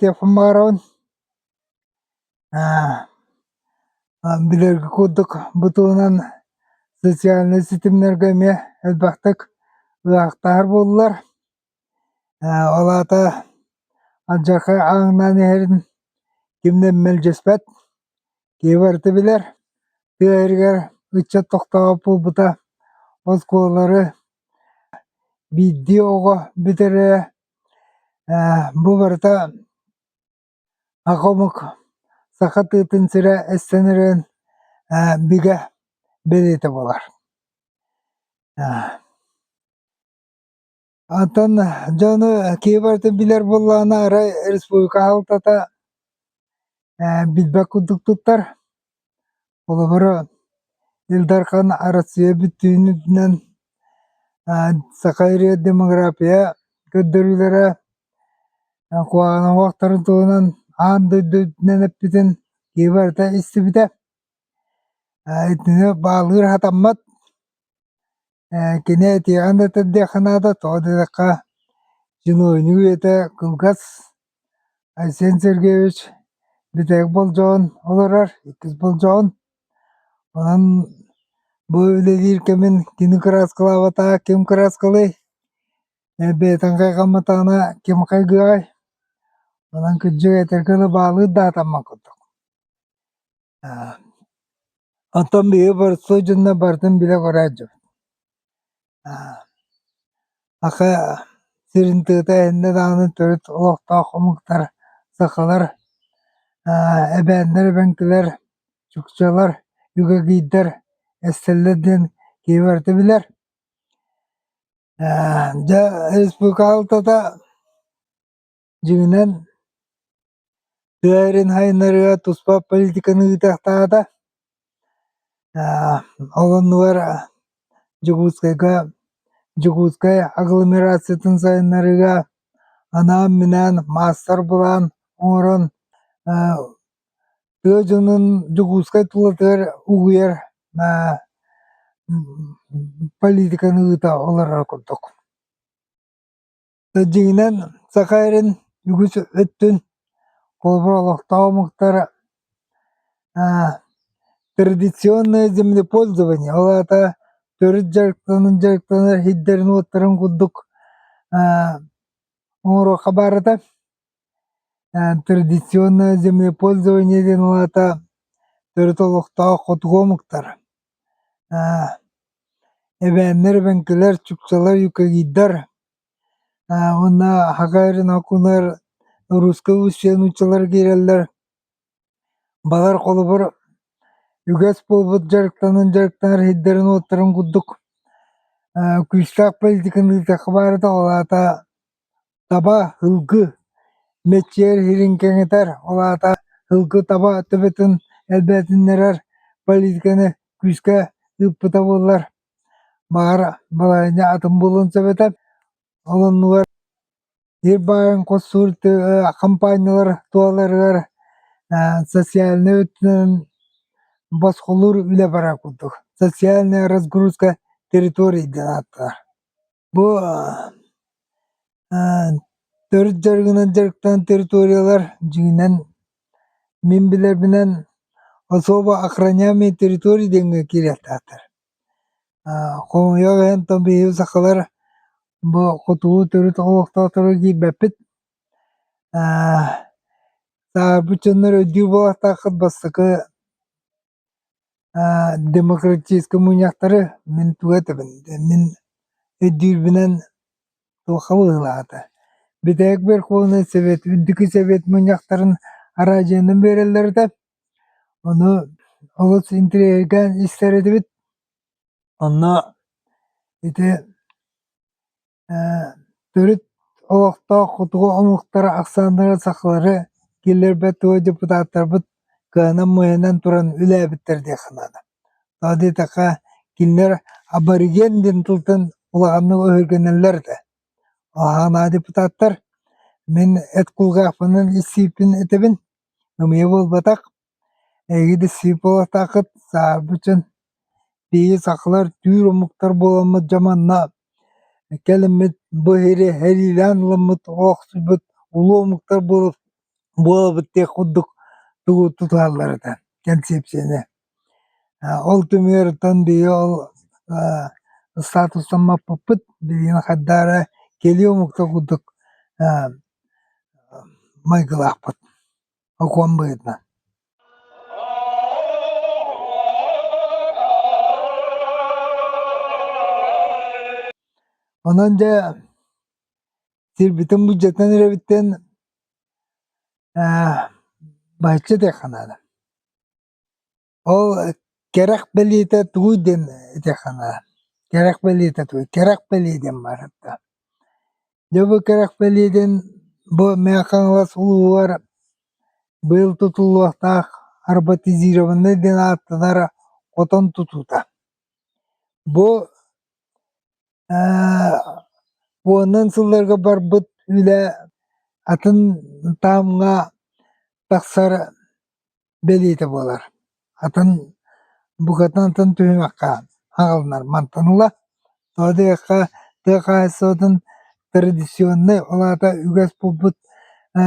Телефон баҕарабын билэргэ курдук бу туһунан социальнай ситимнэргэ эмиэ элбэхтик ыраахтар буоллулар ол аата алдьархай ааҥнаан иһэрин ким да мэлдьэспэт киһи барыта билэр тыа иһигэр ыччат тохтообут буолбута оскуолалары Биирдии оҕо бүтэрэрэ ээ бу барыта аҕа омук саха тыытын сирэ эстэнэрин ээ бигэ бэлиэтэ буолар. Оттон дьону киһи барыта билэр буоллаҕына арай республика аһылтата ээ билбэт курдук туттар. Холобура, Ил Дархан Арассыыйа бүттүүнүнэн саха ырыа демография көрдөрүүлэрэ куһаҕановтарын туһунан аан дойду үрдүнэн эппитин киһи барыта истибитэ. Итини баалыыр сатаммат. Кини этиэҕин да тылдыахха наада, тоҕо диэтэххэ чиновник үйэтэ кылгас Айсен Сергеевич бүтээх болдьоҕун олорор, иккис болдьоҕун. Онон бу үлэлиир кэмин кини кырааскалаабатаҕа ким кырааскалыай, бэйэтин хайҕамматаҕына ким хайгыаҕай. Онон кырдьык этэргэ дылы баалыыр да атаммат курдук. Онтон биһиги боростуой дьонно барытын билэ бара илдьэбит Аха сирин тыата иннэ даҕаны төрүт олохтоох омуктар, сахалар, эбээннэр эбэҥкилэр, чукчалар, үгэгийдэр эстэллэр диэн киһи барыта билэр. Дьэ республика аһылтата Дьиҥинэн, тыа эрин сайыннарыыга туспа политиканы ыытыахтаата. Ол оннугар Дьокуускайга Дьокуускай агломерациятын сайыннарыыга анаан-минээн маастар-былаан оҥорон тыа дьонун Дьокуускай тулатыгар угуйар политиканы ыыта олороро курдук. Дьиҥинэн, саха эрин үгүс өттүн холобура олохтоох омуктара традиционное землепользование, ол аата төрүт дьарыктанан дьарыктанар иһиттэрин курдук оҥоруохха баарыта. Традиционное землепользование диэн ол аата төрүт олохтоох хотугу омуктар эбээннэр, эбэҥкилэр, чукчалар, юкагидар уонна аһаҕа эрэ нокулар русскай устье нууччалар киирэллэр балар холобур үгэс буолбут дьарыктанан дьарыктанар иһиттэрин курдук күүстээх политиканы ыытыахха баара ол аата таба һылгы мэччийэр сирин кэҥэтэр ол аата һылгы таба төбөтүн элбээтиннэрэр политиканы күүскэ ыыппыта буоллар Баара балаһыанньа атын буолуон сөп этэ. Ол оннугар биир баайын хос сур тыа хампаанньалар туоларыгар ээ социальнай өттүнэн босхолуур үлэ барар курдук. Социальная разгрузка территорий диэн ааттанар. Бу төрүт дьарыгынан дьарыктанан территориялар дьиҥинэн мин билэрбинэн особо охраняемые территории диэҥҥэ киириэхтээх этэ. Хомойуох иһин тоҥ биһиги сахалар бу хотугу төрүт олохтоохторго киирбэппит. Саарбыт дьоннор өйдүүр буолуохтааххыт бастакы Э демократическай мунньахтары мин тугу этэбин мин өйдүүрбүнэн туохха быһыылаахата Бүтээх Берховнай Сэбиэт Үрдүкү Сэбиэт мунньахтарын араадьыйанан биэрэллэритэ ону олус интириэһиргээн истэр этибит онно ити төрүт олохтоох хотугу омуктара ахсааннарын сахалары киллэрбэт дуо депутаттарбыт кыанан-муйанан туран үлэлээбиттэр диэххэ наада тоҕо диэтэххэ кинилэр абориген диэн тылтан улаханнык өһүргэнэллэр этэ ол аһаҕанаах депутаттар мин эт кулгаахпынан исииппин этэбин намыйа буолбатах Эһиги да сыыпалатааххыт, саарбычын, тиийэ сахалар түүр омуктар буоламмыт дьэ манна кэлиммит бу иһири эриилээн ылыммыт охсуйбут улуу омуктар буолабыт диэх курдук тугу тутуһаллар этэ кэнсиэпсийэни ол түмүгүттэн биһиги ол статусан маппыппыт билигин хайда эрэ кэлии омуктар курдук майгылаахпыт Окуом быһыытынан Онон дьэ сирбитин бюджетинэн эрэбиттэн ээ бачча диэххэ наада Ол кэрэх бэлиэтэ тугуй диэн этиэх санаа. Кэрэх бэлиэтэ тугуй? Кэрэх бэлиэ диэн баарыттан. Дьэ бу кэрэх бэлиэ диэн бу Мэхэ-Хаҥалас улууһугар быйыл тутуллуохтаах роботизированнай диэн ааттанар хотон тутуута. Бу ээ уоннан сылларга барбыт үлэ атын таамҥа тахсар бэлиэтэ буолар. Атын букатантан түһүмэххэ аҕалынар мантан ыла тоҕо диэххэ тыа хаһаайыстыбатын традиционнай ол аата үгэс буолбут э,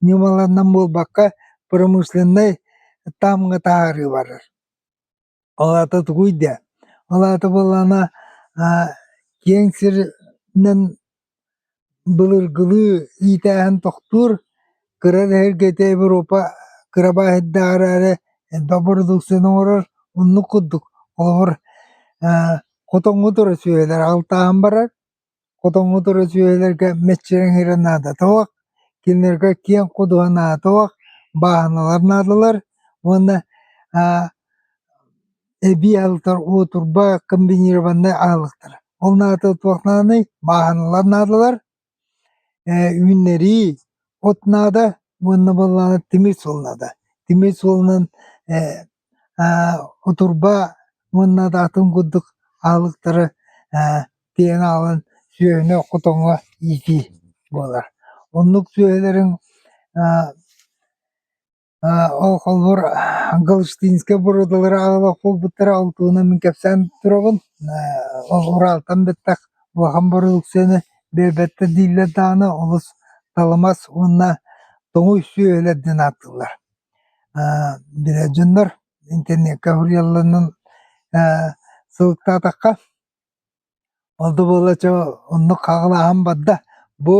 ньымаларынан буолбакка промышленнай таамҥа таһаарыы барар. Ол аата тугуй даа? Ол аата буоллаҕына аа киэҥ сиринэн былыргылыы иитээһин тохтуур, кыра эһэргэтэ Европа кыра баайдарга эрээри элбэх бородууксуйаны оҥорор. Оннук курдук. Холобур, аа хотоҥҥо тура сүөһүлэр алтаһан барар. Хотоҥҥутур үтүөлэргэ мэччирэҥ иһэрэ наадатыһыах, кинилэргэ киэҥ ходуһа наадатыһыах, бааһыналар наадалар уонна эбии аһылыктар уу турба комбинированнай аһылыктара. Ол наада туох нааданый? Бааһыналар наадалар, үүннэрии от наада уонна буоллаҕына тимир суол наада. Тимир суолунан Отурба уонна да атын курдук аһылыктары тиэҥэ аҕалан сүөһүнү хотоҥҥо иитии буолар. Оннук сүөһүлэрин ол холобур Галштинскай бородалары аҕалар буолбуттара ол туһунан мин кэпсээн турабын. Ураалтан бэттэх улахан бородуксуйаны биэрбэттэр дииллэр даҕаны олус талымас уонна тоҥуй сүөһүлэр диэн ааттыыллар. Дьоннор интернекка суруйалларынан сылыктаатахха ол да буолла чэ оннук хаҕылааһын барда бу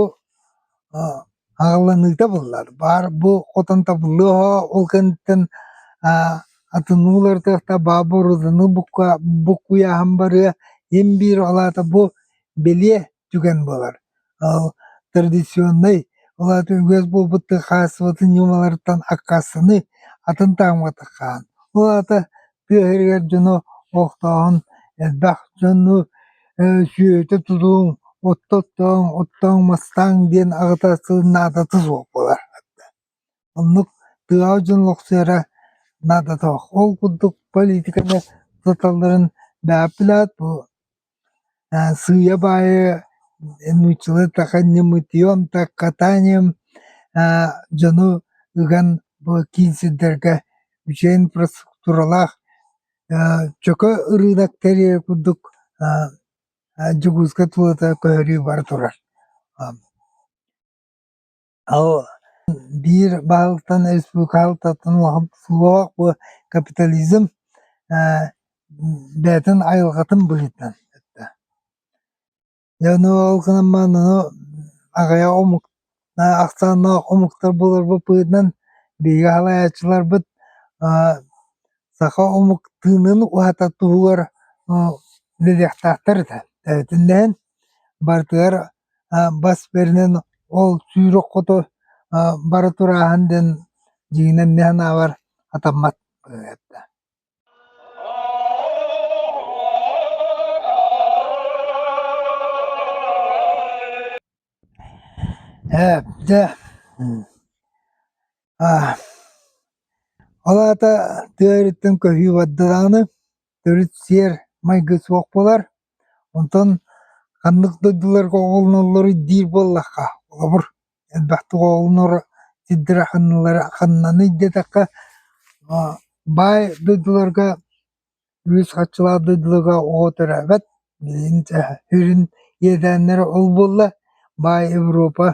хаҕыланыыта буоллар баар бу хотон табыллыаҕа ол кэнниттэн атынныы уларытыахта баар буоруданы буккуйааһын барыа ин биир ол аата бу бэлиэ түгэн буолар. Ол традиционнай улаатан үгэс буолбуттан хаалсыбатын ньымаларыттан аккаастаны атын таамматык хаан. Ол аата тыа иһигэр дьону охтооһун элбэх дьону сүөтэ тутуоҥ, отто оттооҥ, оттооҥ, мастааҥ диэн аҕыта сылын наадата суох буолар. Оннук тыаҕа дьон лохсуйара наадата суох. Ол курдук политиканы туталларын бэһаппилээт бу Сыыйа баайы нууччалыы дьону ыган киин сирдэргэ үчүгэй инфраструктуралаах чөкө ырыынак тэрийэр курдук Дьокуускай тулата көһөрүү бара турар Биир баһыттан республикабытыттан суох бу капитализм бэйэтин айылҕатын быһыытынан эттэ. Дьэ ол гынан баран аны аҕыйах омук ахсааннаах омуктар буоларбыт быһыытынан биһиги салайааччыларбыт саха омук тыынын уһата туһугар үлэлиэхтээхтэр этэ. Эбэтин да иһин барытыгар бас бэринэн ол сүүрүк хоту бары турааһын диэн дьиҥинэн эмиэ санаабар атаммат ырыата ээ дьэ ол аата тыа өрүттэн көһүү барда даҕаны Төрүт сиэр майгы суох буолар, онтон ханнык дойдуларга оҕолоноллоруй диир буоллахха, холобур, элбэхтик оҕолоноро сирдэрэ ханналара ханнаный диэтэххэ, баай дойдуларга үһүс хаччалаах дойдуларга оҕо төрөөбөт, билигин сүрүн иэдээннэрэ ол буолла, баай Европа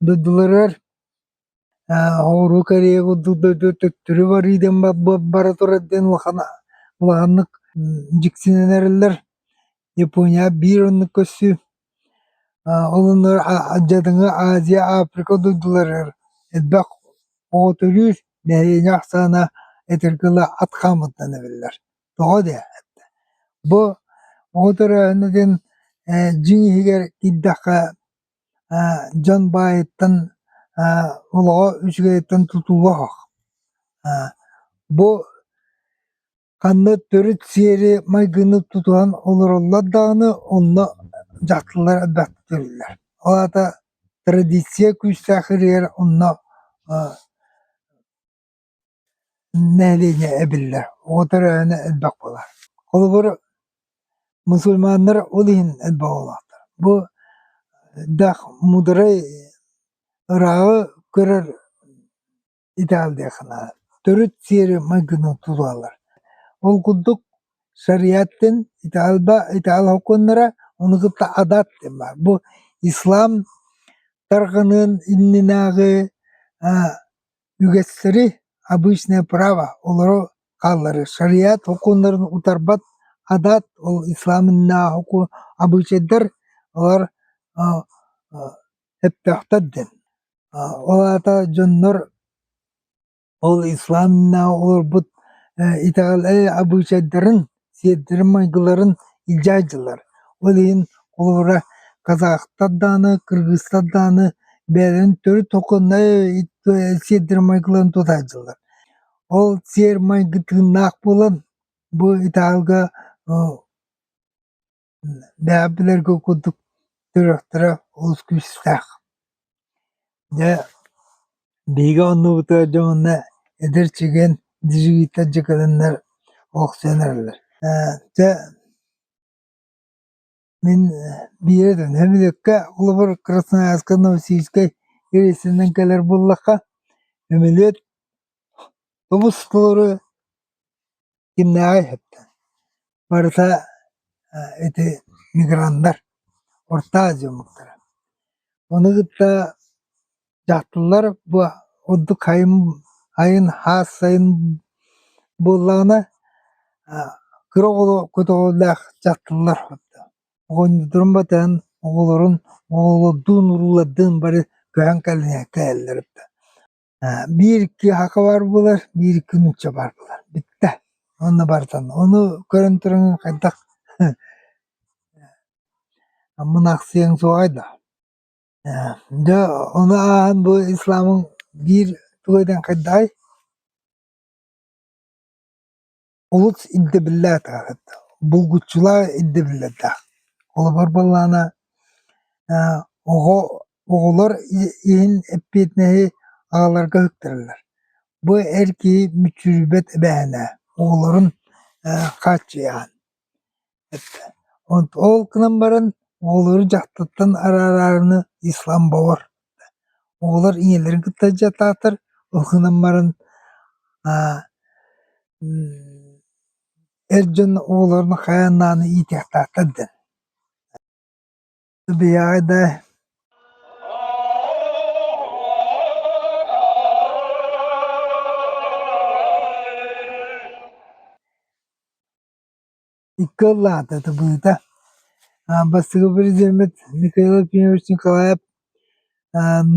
дойдуларыгар Оҕуруу кэриэ курдук дойду төттөрү барыы диэн бара турар диэн улаханнык дьиксинэн эрэллэр. Япония биир оннук көрсүү. Ол оннугар дьадаҥы Азия, Африка дойдуларыгар элбэх оҕо төрүүр, нэһилиэнньэ ахсаана эдэр кыла ат хаамыттан эбиллэр. Тоҕо дии? Бу оҕо төрөөһүнэ диэн дьиҥ иһигэр киирдэххэ дьон баайыттан олоҕо үчүгэйиттэн тутулла оһох. бу ханна төрүт сиэри майгыны тутуһан олороллор даҕаны онно дьахталлар элбэхтик төрүүллэр. Ол аата традиция күүстээх ырыгар онно Нэилиэнньэ эбиллэр, оҕото өрөөһүнэ элбэх буолар. Холобур, мусульманнар ол иһин элбэх буолаллар. Бу элбэх мударай ырааҕы көрөр итэҕэл диэн санаабын. Төрүт сиэри майгыны тулалар. Ол курдук шариаттын итэҕэлбэ итэҕэл сокуоннара ону кытта адат диэн баар. Бу ислам тарҕаныан иннинээҕи Үгэстэри «Обычное право» олоро хаалларыы шариат сокуоннарын утарбат адаат ол исламынааһыку обычайдар олор эппэхтэр дэн ол аата дьоннор ол исламынааҕы олорбут итэҕэл обычайдарын сиэрдэрин-майгыларын илдьэ сылдьаллар, ол иһин холобура казахтар даҕаны, кыргызтар даҕаны бэйэлэрин төрүт сиэрдэрин-майгыларын тутан сылдьаллар. Ол сиэр-майгы тыыннаах буолан бу италга Даа билэргэ курдук тырахтара олус күүстээх. Дьэ биһиги оннубута дьоһунна эдэр чэгиэн дьигириттэр дьыкылыннар охсуйан эрэллэр. Ээ дьэ мин биир этэн сөмөлүөккэ холобур Красноярскай Новосибирскай рейсинэн кэлэр буоллахха сөмөлүөт тобус толору Кимнээҕий эһэтэ? Барыта ити миграндар, орто дьоммуттара. Ону кытта дьахталлар бу ордук хайын хайын хаас сайын буоллаҕына кыра оҕоло көтөҕүүлээх дьахталлар оҕонньотторун батыһан оҕолорун оҕолордуун уруулардыын бары көһөн кэлэн кэлэллэр Э, биир икки хака барбылар, биир икки нуучча барбылар. Бүттэ. Онно барытын. Ону көрөн туран хайдах Аммын аахсыйаҥ суоҕай да. Э, дьэ ону ааһан бу исламың биир тугу этэн хайдаҕай? олус ирдэбиллээх ааҕыт, булгуччулаах ирдэбиллэрдээх. Холобур буоллаҕына аа оҕо оҕолор иһин эппиэтинэһи аҕаларга үктэллэр. Бу эр киһи мүччүрүйбэт эбээһинэ оҕолорун аа хааччыйаҕын. Ол гынан баран оҕолору дьахтартан араарары исламбовар оҕолор ийэлэрин кытта дьатаатар ол гынан баран эр дьон оҕолорун хайаан даҕаны иитиэхтаахтар диэн икки ыллаата табыыта бастакы президеммит Михаил Акимович Николаев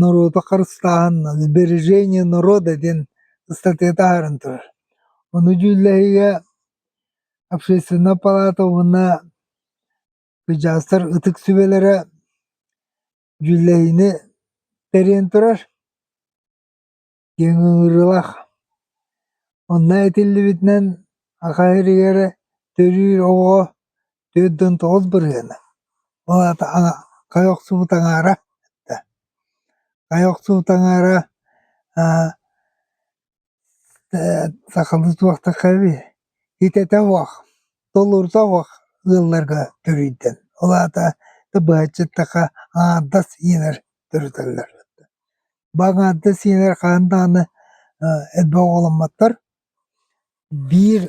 норуоту харыстааһын сбережения народа диэн ыстатыйата ааһарын турар ону дьүүллэһиигэ общественнай палата уонна дьаастар ытык сүбэлэрэ дьүүллэһиини тэрийэн турар диэн ыҥырыылаах. Онно этиллибитинэн аха эригэрэ төрүүр оҕоҕо түөрт уон тоҕус бырыһыана, ол аата хайа охсубут аҥаара эттэ. Хайа охсубут аҥаара сахалыы суохтахха эбии итэтэ буох, толорусо буох ыалларга төрүйдэн. Ол аата да быһаччыттахха аҥардас ийэлэр төрөтөллөр. Баҥарда сиэнэр хаан даҕаны элбэх оҕоломмоттор. Биир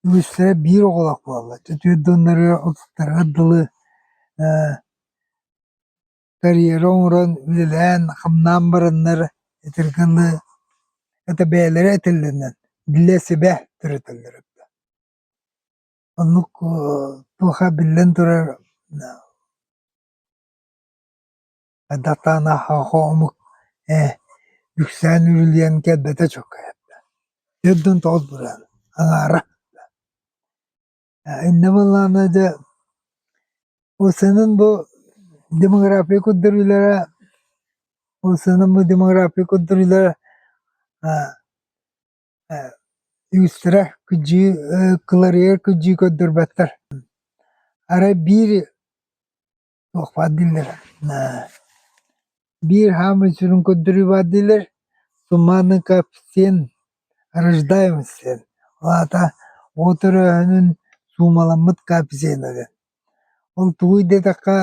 үгүстэрэ биир оҕолоох буолаллар. Үтүө дьоннору, ытыктарга дылы карьера оҥорон, үлэлээн, хамнаан бараннар итиргэнэ это бэйэлэрэ этэллэринэн билэ-сибэ төрөтөллөрө эбитэ. Оннук туоха биллэн турар Датаан аһаҕа омук ээ үксээн үрүлүйэн кэлбэтэ чуҥкайда Өлдөн тоҕус быраан аҥаара Иннэ Баллаана дьэ ол сыанан бу демография көрдөрүүлэрэ ол сыанан бу демография көрдөрүүлэрэ үгүстэрэ кыдьыы кыларыйар кыдьыы көрдөрбөттөр арай биир туох баар дииллэр биир хаамыы сүрүн көрдөрүү баар дииллэр суммарный коэффициент рождаемости диэн ол аата от өрөөһүнүн суумаламмыт коэффициена диэн ол тугуй диэтэххэ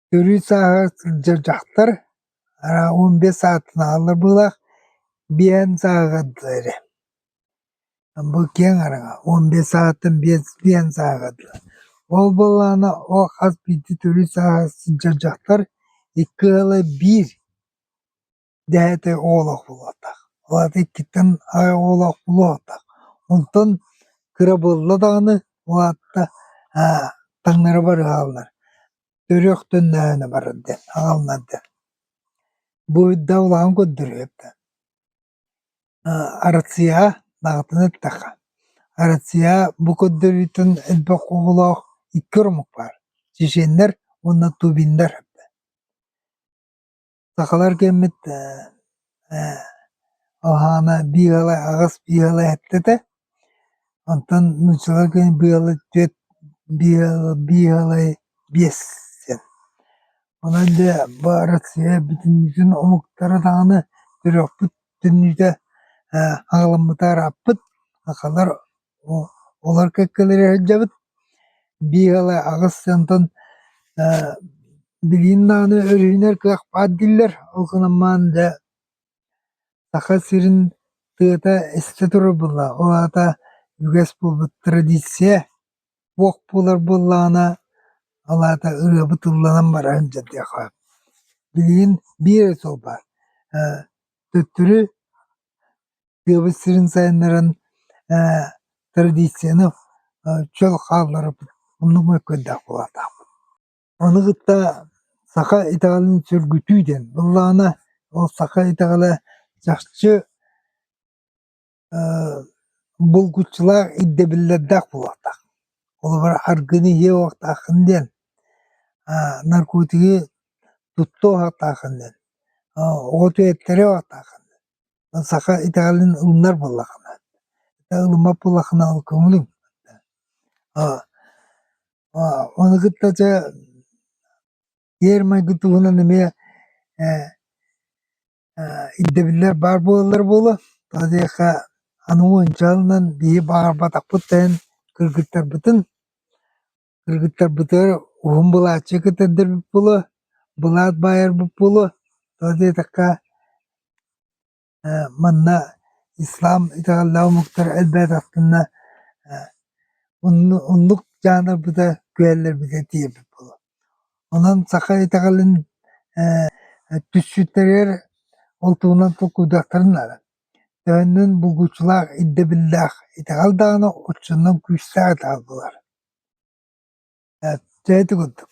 төрүүр сааһыгар сылдьар дьахтар он бес саатын аһаллар быһыылаах биэһин сааһыгар эрэ Бу киэҥ араҥа уон биэс саҕаттан биэс сааҕа дуо? Ол буоллаҕына о хас биирдии төрүт сааҕа сылдьар дьахтар икки ыала биир дэһэтэ оҕолоох буолуохтаах. Ол аата иккиттэн аҕа оҕолоох буолуохтаах. Онтон кыра буолла даҕаны ол аата аа таҥнары бар ыһаллар. Төрүөхтөннөһөнө барар диэн, аҕалынар диэн. Бу да улахан көрдөрүһүөх да. Россияҕа даҕатан эттэххэ, Россия бу көрдөрүүтүн элбэх оҕолоох икки омук баар: чеченнэр уонна тубиннар. Сахалар кэммит, алаһаана биир аҕыс, биир аҕа эттэ да Онтон нууччалар күн быйылы түөрт быйалай биэс син. Онон дьэ бу Арассыыйа бүтүннүүтүн омуктара даҕаны төрүөхпүт түннүтэ ээ аҕаламмыта ырааппыт, сахалар олор кэккэлэрэ сылдьабыт. Быйалай аҕыс онтон ээ билигин даҕаны өрүһүнэр кыах баар дииллэр, ол гынан баран дьэ Саха сирин тыата эстэ турубулла, ол аата үгэс буолбут традиция туох буолар буоллаҕына, ол аата ырыа бытылланан баран дьарыктыахха. Билигин биир эрэ суол баар, э төттөрү тыабыт сирин сайыннаран э традицияны э чөл хаалларыппыт, оннук мөккүөрдээх буолаахтаах. Ону кытта саха итэҕэлин сөргүтүү диэн быллаана ол саха итэҕэлэ чахчы булгуччулаах ирдэбиллэрдээх буолуохтаах. Холобур, аргыны иһиэ буолуохтааххын диэн, наркотигы туттуо буолуохтааххын диэн, оҕо түһэттэрэ буолуохтааххын диэн. Саха итэҕэлин ылынар буоллаххына, ылыммат буоллаххына ол көҥүлүҥ. Ону кытта дьэ пиэрмэйгэ туһунан эмиэ ээ ирдэбиллэр баар буолаллар буолуо тоҕо диэххэ аны уончаланан биһи баҕарбатахпыт да иһин кыргыттарбытын кыргыттарбытыгар уһун былааччы кэтэрдэрбит буолуо былаат баайарбыт буолуо тоҕо диэтэххэ манна ислам итэҕэллээх омуктара элбэҕи тастынна оннук жанрбыта күөллэрбитэ тиийбэт буолуо онон саха итэҕэлин түсчүттэригэр ол туһунан толкуйдуохтарын наада төннүн булгуччулаах ирдэбиллээх итэҕэл даҕаны оччонон күүстээх итэҕэл буолар дьэ ити курдук